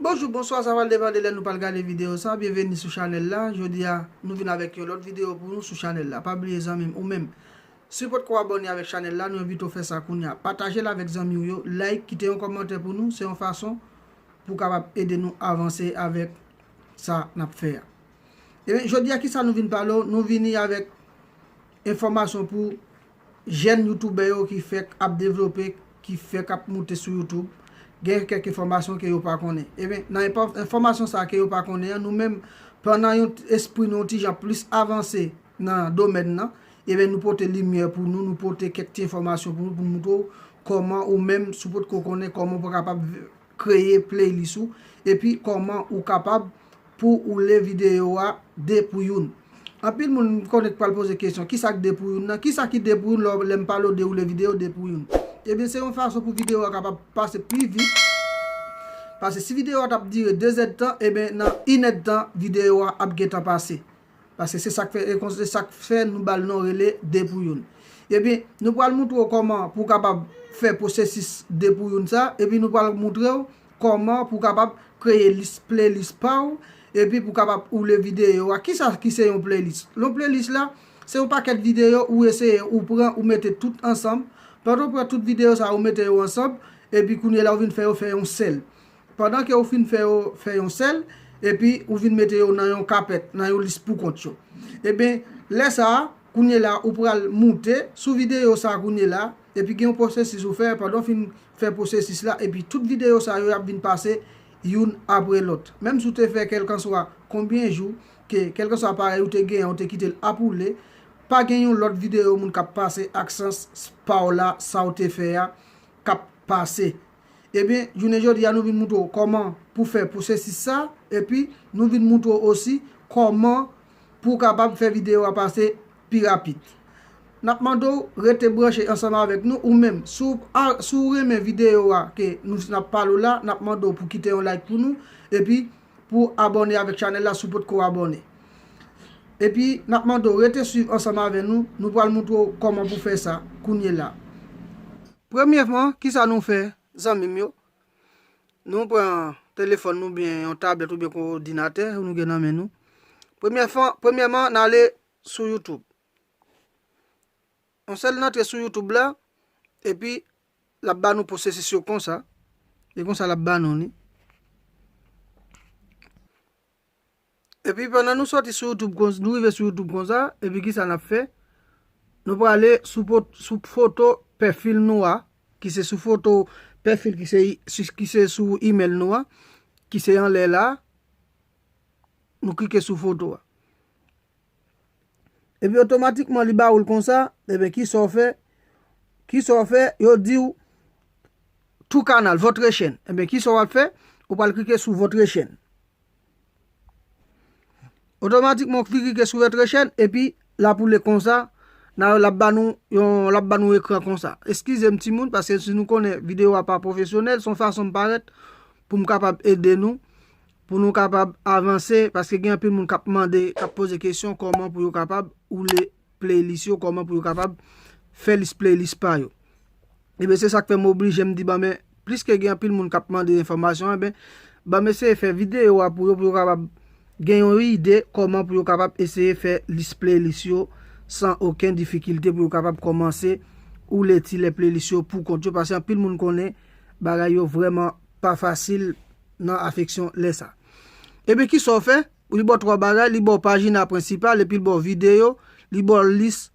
Bonjou, bonswa, sa va depande lè nou pral gade videyo sa, byenveni sou chanèl la, jodi a nou vin avèk yon lòt videyo pou nou sou chanèl la, pa bliye zanmi m ou menm si w potko abòne avèk chanèl la nou envite w fè sa kounya, pataje l avèk zanmi w yo, like, kite yon kòmantè pou nou, se yon fason pou w kapab ede nou avanse avèk sa n ap fè a. Ebyen, jodi a kisa nou vin pale w, nou vini avèk. Enfòmasyon pou Jèn youtoubè yo ki fèk ap devlope, ki fèk ap moute sou youtube, gen kèk enfòmasyon ke yo pa konnen. Eben, nan enfòmasyon sa ke yo pa konnen an, nou menm pran nan yon espri nou yon ti jan plis avanse nan domèn nan, eben nou pote limyè pou nou, nou pote kèk ti enfòmasyon pou nou, pou nou moutre w kòman ou menm, si w potko konnen, kòman ou pou kapab kreye playlist ou epi kòman ou kapab pou ou le videyo a 2 pou youn anpil moun m konnen k pral poze kesyon kisa k 2 pou youn nan kisa ki 2 pou youn lò lèm pale w de ou le videyo 2 pou youn ebyen se yon fason pou videyo a kapab pase pli vit pase si videyo a tap dire 2 zèdtan ebyen nan 1 èdtan videyo a ap gentan pase Paske se sak fè ekon se sak fè nou bal non rele depouyoun. Ebyen nou pral moutre w kòman pou w kapab fè pwosesis depouyoun sa epi nou pral moutre w kòman pou w kapab kreye lis playlist pa w epi pou w kapab oule videyo a. Kisa ki se yon playlist? Yon playlist la se yon pakèt videyo ou eseye ou pran ou mete tout ansanm. Pandan w pran tout videyo sa ou mete yo ansanm epi kounye la ou vin fè yo fè yon sèl. Pandan ke ou fin fè yo fè yon sèl, epi ou vin mete yo nan yon kapèt, nan yon lis poukont yo. Eben, lè sa a, kounyela ou pral moute sou videyo sa a kounyela, epi gen yon pwosesis ou fè, pandan ou fin fè pwosesis la, epi tout videyo sa yo y ap vin pase youn apre lòt. Menm si ou te fè kèlkanswa konbyen jou, ke kèlkanswa aparèy ou te genyen an ou te kite l ap woule, pa gen yon lòt videyo moun k ap pase ak sans pa w la, sa ou te fè a, k ap pase Ebyen, jounen jodi a nou vin moutre w kòman pou fè pou sesi sa, epi nou vin moutre w osi kòman pou w kapab fè videyo a pase pi rapid. N ap mande w rete branche ansanm avèk nou, ou menm si w renmen videyo a ke nou ap pale w la, n ap mande w pou kite yon like pou nou, epi. Pou abòne avèk chanèl la si w potko abòne. Epi nap mande w rete swiv ansanm avè nou, nou pral moutre w kòman pou fè sa kounyela. Premyèman kisa nou fè zanmi m yo, nou pran telefòn nou oubyen yon tablèt oubyen yon odinatè nou gen nan men nou, premyèman n ale sou youtube, yon sèl n antre sou youtube la epi L ap ba nou posesis yo konsa, e konsa l ap ba nou li. Epi pandan nou soti sou youtube konsa, nou rive sou youtube konsa, epi kisa n ap fè, nou prale sou foto pèfil nou a, ki se sou foto pèfil ki se sou email nou a, ki se anlè la, nou klike sou foto a. Epi otomatikman li ba ou l konsa, eben ki sa w fè? Ki sa w fè? Yo di w True Canal, Votre Chaîne. Eben ki sa w ap fè? Ou pral klike sou Votre Chaîne. Otomatikman ou klike sou Votre Chaîne epi l ap woule konsa, l ap ba nou yon, l ap ba nou ekran konsa. Eskize m timoun paske si nou konnen videyo a pa pwofesyonèl, s on fason m parèt pou m kapab ede nou Pou nou kapab avanse, paske gen anpil moun kap mande, kap poze kesyon kòman pou yo kapab woule playlist yo, kòman pou yo kapab fè lis playlist pa yo. Eben se sak fè m oblije m di bon men, pliske gen anpil moun kap mande enfòmasyon eben, ban m eseye fè videyo a pou yo pou yo kapab gen yon ide kòman pou yo kapab eseye fè lis playlist yo san oken difikilte pou yo kapab kòmanse woule ti lè playlist yo pou kont yo, paske anpil moun konnen bagay yo vrèman pa fasil nan afeksyon lè sa. Ebyen kisa w fè? Li ba w 3 bagay, li ba w pajina prensipal epi li ba w videyo, li ba w lis,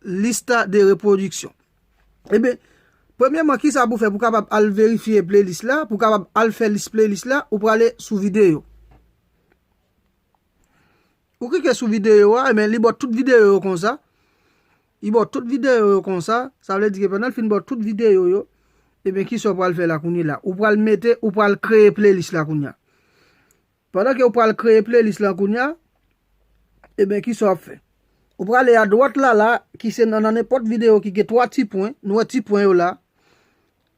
lista de repwodiksyon. Ebyen, premyèman kisa pou w fè pou w kapab al verifye playlist la, pou w kapab al fè lis playlist la, ou prale sou videyo. Ou klike sou videyo a, ebyen li ba w tout videyo yo konsa. Li baw tout video yo konsa, sa vle di ke pandan li fin baw tout video yo, ebyen kisa ou pral fè la kounye la? Ou pral mete, ou pral kreye playlist la kounye a. Pandan ke ou pral kreye playlist la kounye a, ebyen kisa wap fè? Ou pral ale a dwat la la, ki se nan nenpòt video ki gen 3 ti pwen, nou wè ti pwen yo la,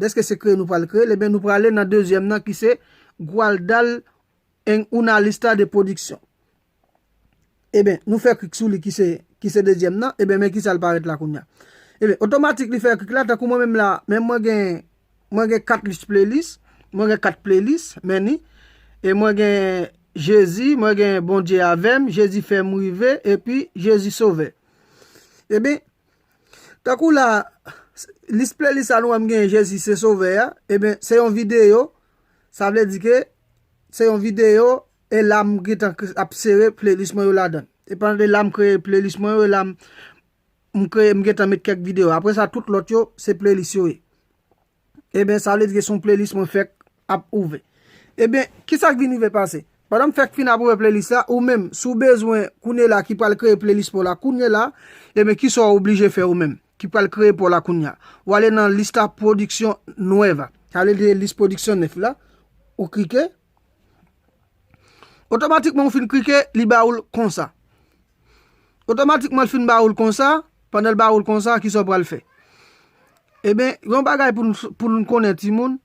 Dèske se kreye nou pral kreye l, ebyen nou prale nan dezyèm nan ki se Gualdal en una lista de producción. Ebyen, nou fè klik sou li ki se ki se dezyèm nan, ebyen men ki sa l parèt la kounya. Ebyen, otomatik li fè klik la, tankou mwen menm la, men mwen gen mwen gen 4 lis playlis, mwen gen 4 playlis, men ni, e mwen gen Jezi, mwen gen Bondye avè m, Jezi fè m rive, epi Jezi sovè. Ebyen. Tankou la, lis playlist sa nou wè m genyen Jezi se sovè a, eben se yon videyo, sa vle di ke se yon videyo e la m gentan ap sere playlist mwen yo ladan. E pandan de la m kreye playlist mwen yo e la m kreye m gentan met kèk videyo. Aprè sa tout lòt yo se playlist yo ye. Eben sa vle di ke son playlist mwen fèk ap ouvè. Eben, kisa k vin rive pase? Pandan m fèk fin ap ouvè playlist la, ou menm, si w bezwen kounye la ki pral kreye playlist pa w la kounye la, eben kisa w oblije fè ou menm, ki pral kreye pa w la kounye a? W ale nan lista production nueva. Sa vle di list production nèf la, ou klike. Otomatikman ou fin klike, li ba ou l konsa. Otomatikman l fin ba ou l konsa, pandan l ba ou l konsa, ki sa ou pral fè? Eben, eh yon bagay pou nou konnen ti moun,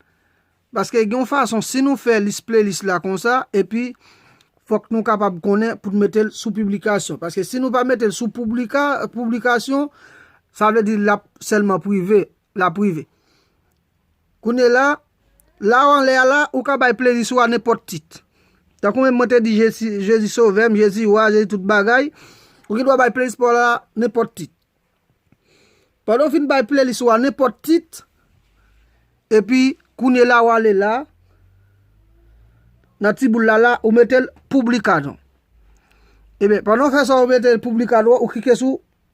paske gen yon fason, si nou fè lis playlist la konsa, epi fòk nou kapab konnen pou nou mete l sou piblikasyon. Paske si nou pa mete l sou piblikasyon, sa vle di l ap sèlman prive, la prive. Kounye la, la w anlè a la, ou ka bay playlists ou a nenpòt tit. Tankou menm mwen te di Jezi sovè m, Jezi wa, Jezi tout bagay, ou gen dwa bay playlist pa w la nenpòt tit. Pandan w fin bay playlist ou a nenpòt tit, epi kounye la w ale la, nan ti boul la la, ou mete l Publica non. Eben, pandan w fè sa ou mete l Publica non, ou klike sou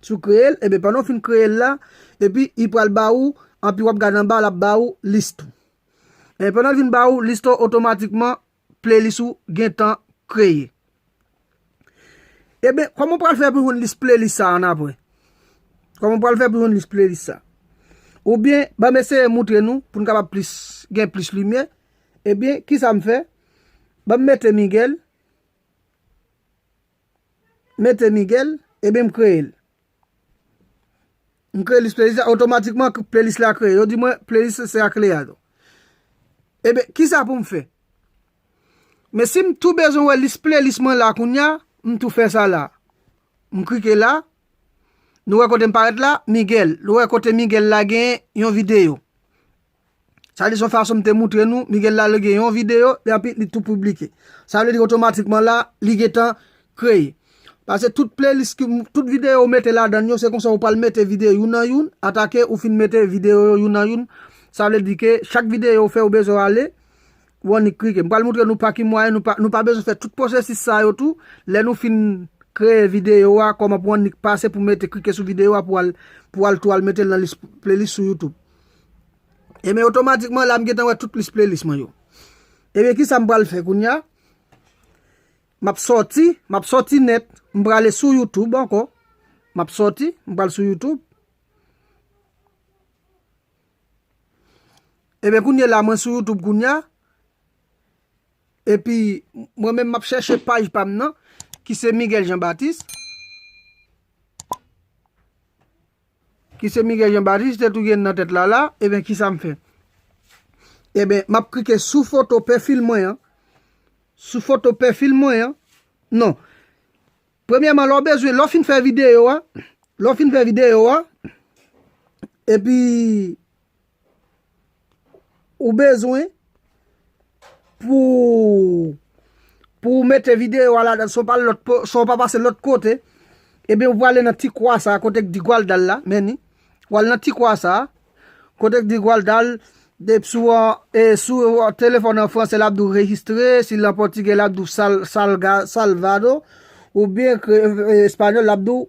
Si w kreye l, enben pandan w fin kreye l la, epi li pral ba ou, anpi wap gade anba l ap ba ou list ou. E pandan l vin ba ou list ou otomatikman playlist ou gen tan kreye. Eben, kòman w pral fè pou jwenn list playlist sa annapre? Kòman w pral fè pou jwenn list playlist sa? Ou byen, banm eseye moutre nou pou n kapab plis gen plis limyè. Ebyen, kisa m fè? Banm mete Miguel. mete Miguel, ebyen m kreye l. M kreye lis playlist la, otomatikman playlist la kreye. Yo di mwen playlist la se ak Leandro. Ebyen, kisa pou m fè? Men si m tou bezwen wè lis playlist mwen la kounya, m tou fè sa la. M klike la, nou wè kote m parèt la, Miguel. Nou wè kote Miguel la gen yon videyo. Sa vle di son fason m te moutre nou, Miguel la lage yon videyo, e anpi li tou piblike. Sa vle di otomatikman la, li gen tan kreye. Pase tout playlist ki, tout videyo ou mete ladan yo, se konsa ou pral mete videyo youn an youn, atake ou fin mete videyo yo youn an youn. Sa vle di ke chak videyo ou fè ou bezwen ale, ou annik klike. M pral moutre nou pa ki mwayen nou pa, nou pa bezwen fè tout pwosesis sa yo tou, lè nou fin kreye videyo a, kòman pou annik pase pou mete, klike sou videyo a pou al, pou al tou al mete l nan lis, playlist sou youtube. Ebyen otomatikman la m gentan wè tout lis playlist mwen yo. Ebyen kisa m pral fè kounya? Map soti, map soti nèt, m prale sou YouTube ankò. Map soti, m pral sou YouTube. Ebyen kounye la mwen sou YouTube kounya. Epi mwen men map chèche paj pa m nan ki se Miguel Jean Baptiste. Ki se Miguel Jean Baptiste te touye n nan tèt la la, eben kisa m fè? Eben, m ap klike sou foto pèfil mwen an, sou foto pèfil mwen an, non. Premyèman, lè w bezwen, lè w fin fè videyo a, lè w fin fè videyo a, epi, Ou bezwen pou ou mete videyo a ladan son ou pa pase lòt kote, ebyen ou pwale nan ti kwa sa a kote k di gwal dal la, men ni, wal nan ti kwa sa a, kote k di gwal dal, dep sou an, e sou an telefon an franse lap di w rejistre, si l an pòtigè lap di w salvado, oubyen espanyòl lap di w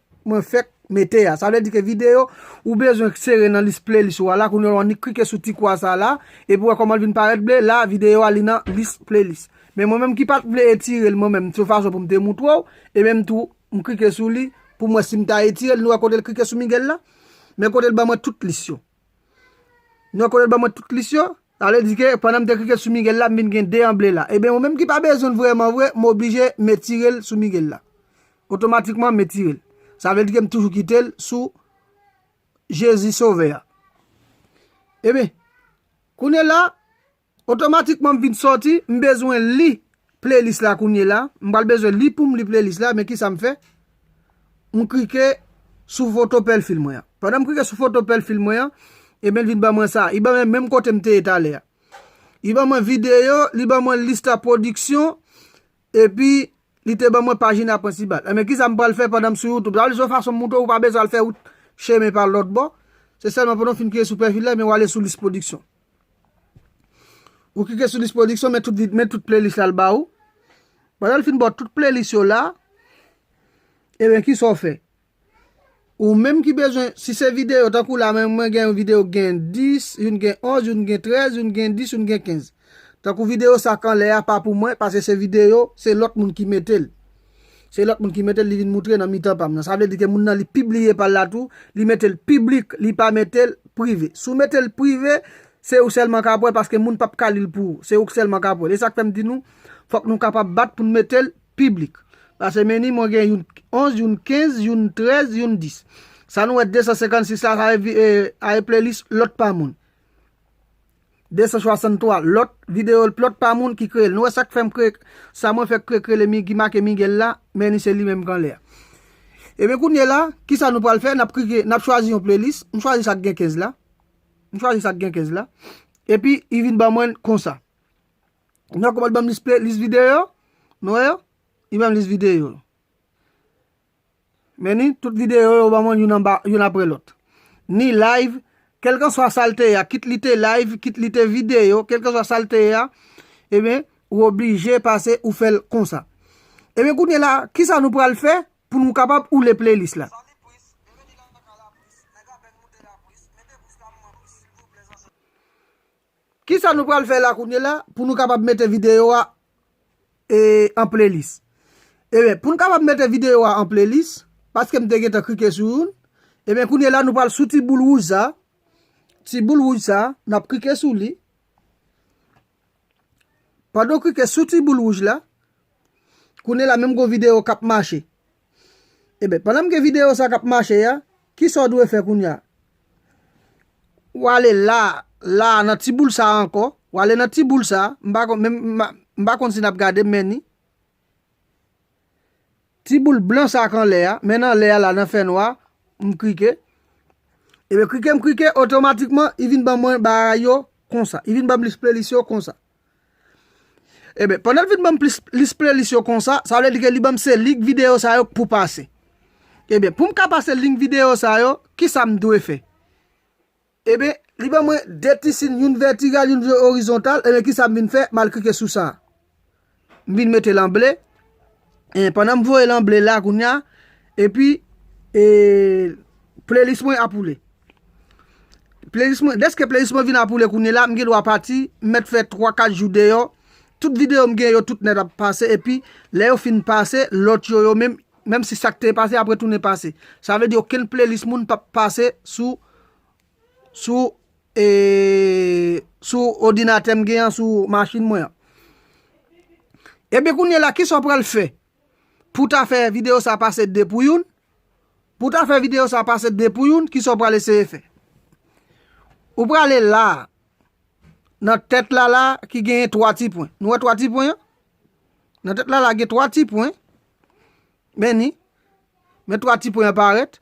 Mwen fèk mete a. Sa vle di ke video ou bezwen sere nan lis playlist ou a la. Kounye a ou annik klike sou ti kwa sa la. Epi ou wè kòman li vin parèt ble. La video a li nan lis playlist. Men mwen menm ki pat vle etire l mwen menm. Se yon fason pou m te moutre w. E menm tou m klike sou li pou m wè si m ta etire l. Nou wè kote l klike sou Miguel la? Men kote l ban mwen tout lis yo. Nan kote l ban mwen tout lis yo, sa vle di ke pandan m te klike sou Miguel la, m vin gen 2 an ble la. Eben, ou menm ki pa bezwen l vrèman vre, m oblije m etire l sou Miguel la. Otomatikman, m etire l. Sa vle di ke m toujou kite l sou Jezi Sovè a. Eben, kounye la, Otomatikman m vin sòti, m bezwen li playlist la kounyela, m pral bezwen li poum li playlist la, men kisa m fè, m klike sou foto pèlfil mwen an. Pandan m klike sou foto pèlfil mwen an, ebyen li vin ban mwen sa, li ban mwen menm kote m te ye talè a. Li ban mwen videyo, li ban mwen lista pwodiksyon, epi li te ban mwen pajina prensibal. Ebyen kisa m pral fè pandan m sou youtube, sa vle di se yon fason m moutre w ou pa bezwen al fè wout chemen pa lòt bò, se sèlman pandan w fin klike sou pèfil la, ebyen wale sou lis pwodiksyon. Ou klike sou lis pwodiksyon, men tout vide, men tout playlist la l ba ou. Pandan l fin ba w tout playlist yo la, e ben ki sa w fè? Ou menm ki bezwen, si se videyo, tankou la men mwen gen yon videyo ki gen 10, youn gen 11, youn gen 13, youn gen 10, youn gen 15. Tankou videyo sa k anlè a pa pou mwen, paske se videyo, se lòt moun ki mete l. Se lòt moun ki mete l li vin moutre nan mitan pa m nan. Sa vle di ke moun nan li pibliye pa l la tou, li mete l piblik, li pa mete l prive. Si w mete l prive, se ou sèlman k ap wè paske moun p ap ka li l pou ou. Se ou k sèlman k ap wè l. E sa k fè m di nou, fòk nou kapab bat pou n mete l piblik. Pase meni mwen gen youn 11, youn 15, youn 13, youn 10. Sa nou wè 256 la, sa vle di e playlist lòt pa moun. 263 lòt video l plòt pa moun ki kreye l nou wè sak fèm kreye sa mwen fèk kreye kreye le ki make Miguel la men li se li menm k anlè a ebyen kounyela kisa nou pral fè nap krike nap chwazi yon playlist m chwazi sak gen 15 la m chwazi sak gen 15 la epi li vin ban mwen konsa nou wè kòman l banm lis play lis video nou wè yo li banm lis video. Meni, tout videyo yo ban mwen youn anba youn apre lòt. Ni live, kèlkanswa sa l te ye a, kit li te live, kit li te videyo, kèlkanswa sa l te ye a, ebyen, ou oblije pase ou fè l konsa. Ebyen kounye la, kisa nou pral fè pou nou kapab oule playlist la? Kisa nou pral fè la kounyela pou nou kapab mete videyo a an playlist? Ebyen pou nou kapab mete videyo a an playlist, paske m te gentan klike sou youn, ebyen kounyela nou pral sou ti boul wouj sa, ti boul wouj sa, nap klike sou li, pandan w klike sou ti boul wouj la, kounyela menm gon videyo kap mache. Eben, pandan m gen videyo sa k ap mache a, ki sa w dwe fè kounye a? Ou ale la a, la a, nan ti boul sa a ankò. Ou ale nan ti boul sa a. M pa konn, m pa konn si n ap gade men ni. Ti boul blan sa a k anlè a, men nan lè a la, nan fènwa a, m klike. Eben, klike m klike, otomatikman, li vin ban mwen bagay yo konsa. Li vin ban m lis playlist yo konsa. Eben, pandan l fin banm plis lis playlist yo konsa, sa vle di ke li banm se link video sa yo k pou pase. Eben, pou m ka pase link video sa yo, kisa m dwe fè? Eben, li ban mwen 2 ti sin, youn vètigal, youn orizontal, eben kisa m vin fè, m al klike sou sa. M vin mete l an ble. Hein pandan m voye l an ble la kounya epi e playlist mwen ap woule playlist mwen deske playlist mwen vin ap woule kounyela m gen dwa pati m mèt fè 3 4 jou deyò tout videyo m gen yo tout nèt ap pase epi lè yo fin pase lòt yo yo menm menm si sak te pase ap retounen pase sa vle di okenn playlist moun pap pase sou Sou Sou odinatè m gen an sou machin mwen an Ebyen kounye la kisa w pral fè pou ta fè videyo sa pase 2 pou youn pou ta fè videyo sa pase 2 pou youn kisa w pral eseye fè ou prale la nan tèt la la ki genyen 3 ti pwen nou wè 3 ti pwen an nan tèt la la gen 3 ti pwen men ni men 3 ti pwen an parèt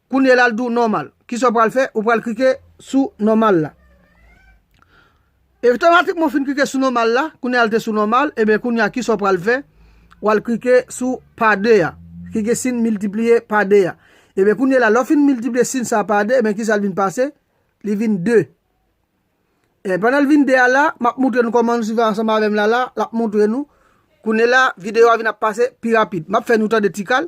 Kounye la l di w nòmal. Kisa w pral fè? Ou pral klike sou nòmal la. E otomatikman w fin klike sou nòmal la, kounye a l te sou nòmal, enben kounye a kisa w pral fè? W al klike sou pa 2 a, klike sin miltipliye pa 2 a. Enben kounye la lè w fin miltipliye sin sa a pa 2, enben kisa l vin pase? Li vin 2. E pandan l vin 2 a la, m ap moutre nou kòman nou swiv ansanm avè m la la, l ap moutre nou. Kounye la videyo a vin ap pase pi rapid. M ap fè nou tande ti kal.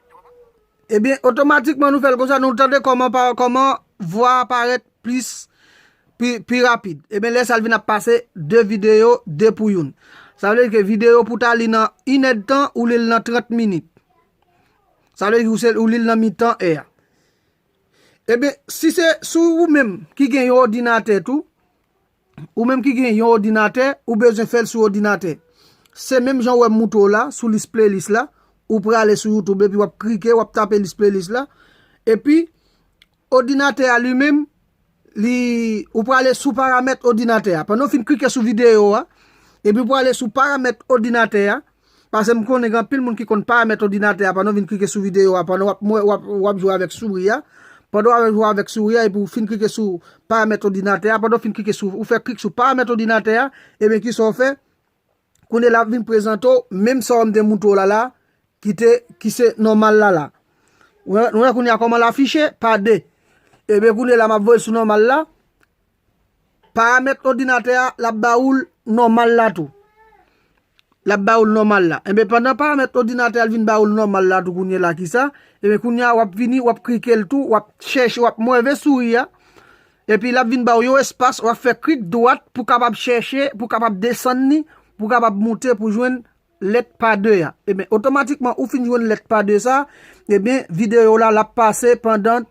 Ebyen otomatikman nou fèl konsa nou tande kòman pa kòman vwa a parèt plis pi pi rapid ebyen lè sa l vin ap pase 2 videyo 2 pou youn sa vle di ke videyo pou ta li nan inèdtan ou li l nan 30 minit sa vle di ou li l nan mitan è a ebyen si se sou ou menm ki gen yon odinatè tou Ou menm ki gen yon odinatè, ou bezwen fèl sou odinatè. Se menm jan ou wè m moutre w la, sou lis playlist la, ou prale sou youtube epi wap krike, wap tape lis playlist la, epi odinatè a li menm, li, ou prale sou paramèt odinatè a. Pandan w fin krike sou video a, epi ou prale sou paramèt odinatè a. Pase m konnen gen anpil moun ki konn paramèt odinatè a pandan w vin klike sou videyo a pandan w ap jwe avèk souri a. Pandan w ap jwe avèk souri a epi w fin klike sou paramèt odinatè a, pandan w fin klike sou, ou fè klik sou paramèt odinatè a, ebyen kisa w fè? Kounye la ap vin prezante w menm sa m te montre w la la ki te, ki se nòmal la la. Ou wè kounye a kòman l afiche? Pa 2. Ebyen kounye la m ap voye l sou nòmal la. Paramèt odinatè a, l ap ba ou l nòmal la tou. L ap ba ou l nòmal la. Enben, pandan paramèt odinatè a l vin ba ou l nòmal la tou kounye la ki sa, enben kounye a w ap vini w ap klike l tou, w ap chèche, w ap mweve souri a, epi l ap vin ba ou yon espas, w ap fè klik dwat pou kapab chèche, pou kapab desann li, pou kapab moute pou jwenn. lèt pa 2 a ebyen otomatikman ou fin jwenn lèt pa 2 sa ebyen videyo la lap pase pandan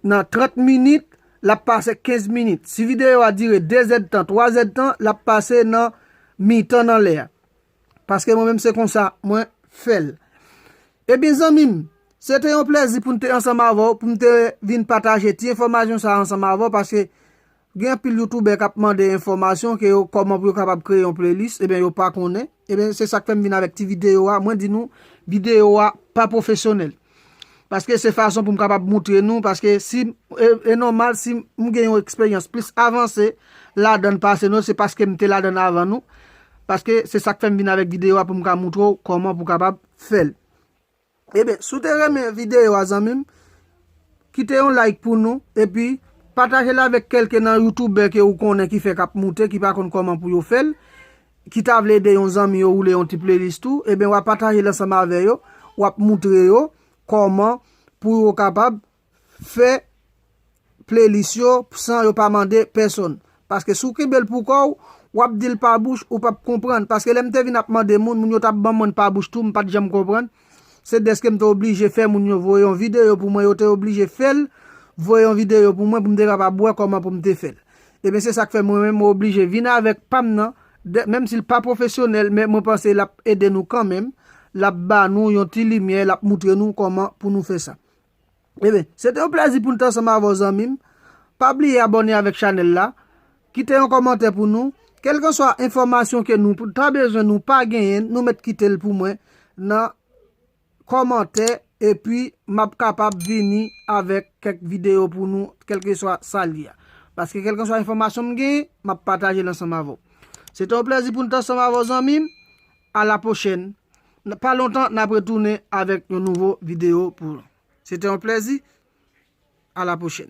nan 30 minit lap pase 15 minit si videyo a dire 2 zèd tan 3 zèd tan lap pase nan mitan nan lè a paske mwen menm se konsa mwen fèl ebyen zanmim se te yon plezi poum te ansanm avèw poum te vin pataje ti enfòmajyon sa ansanm avèw paske Gen anpil youtoubè kap mande enfòmasyon ke yo kòman pou yo kapab kreye yon playlist ebyen yo pa konnen ebyen se sak fèm vin avèk ti videyo a mwen di nou videyo a pa pwofesyonèl paske se fason poum kapab moutre nou paske si e nòmal si m gen yon eksperyans plis avanse ladann pase nou se paske m te ladann avan nou paske se sak fèm vin avèk videyo a poum ka moutre w kòman pou kapab fèl. Ebyen si w te renmen videyo a zanmi m kite yon like pou nou epi pataje l avèk kelke nan youtoubè ke ou konnen ki fèk ap moute ki pa konn kòman pou yo fè l ki ta vle ede yon zanmi yo woule yon ti playlist tou ebyen wa pataje l ansanm avè yo wap moutre yo kòman pou yo kapab fè playlist yo san yo pa mande pèsonn paske si w kenbe l pou kò w w ap di l pa bouch ou p ap konprann paske lè m te vin ap mande moun moun yo t ap ban mwen pa bouch tou m pa t janm konprann se dèske m te oblije fè moun yo voye yon videyo pou mwen yo te oblije fè l voye yon videyo pou mwen pou m te kapab wè kòman pou m te fè l ebyen se sa k fè mwen menm mwen oblije vin avèk pa m nan menm si l pa pwofesyonèl men mwen panse l ap ede nou kanmenm l ap ba nou yon ti limyè l ap moutre nou kòman pou nou fè sa. Ebyen, se te yon plèzi pou n t ansanm avè w zanmi m. Pa bliye abòne avèk chanèl la, kite yon kòmantè pou nou, kèlkanswa enfòmasyon ke nou ta bezwen nou pa genyen n, nou mèt kite l pou mwen nan kòmantè epi m ap kapab vini avèk kèk videyo pou nou kèlkeswa sa l ye a. Paske kèlkanswa enfòmasyon m genyen, m ap pataje l ansanm avè w. Se te yon plèzi pou n t ansanm avè w zanmi m. A la pwochèn, nan pa lontan nap retounen avèk yon nouvo video pou ou. Se te yon plèzi, a la pwochèn.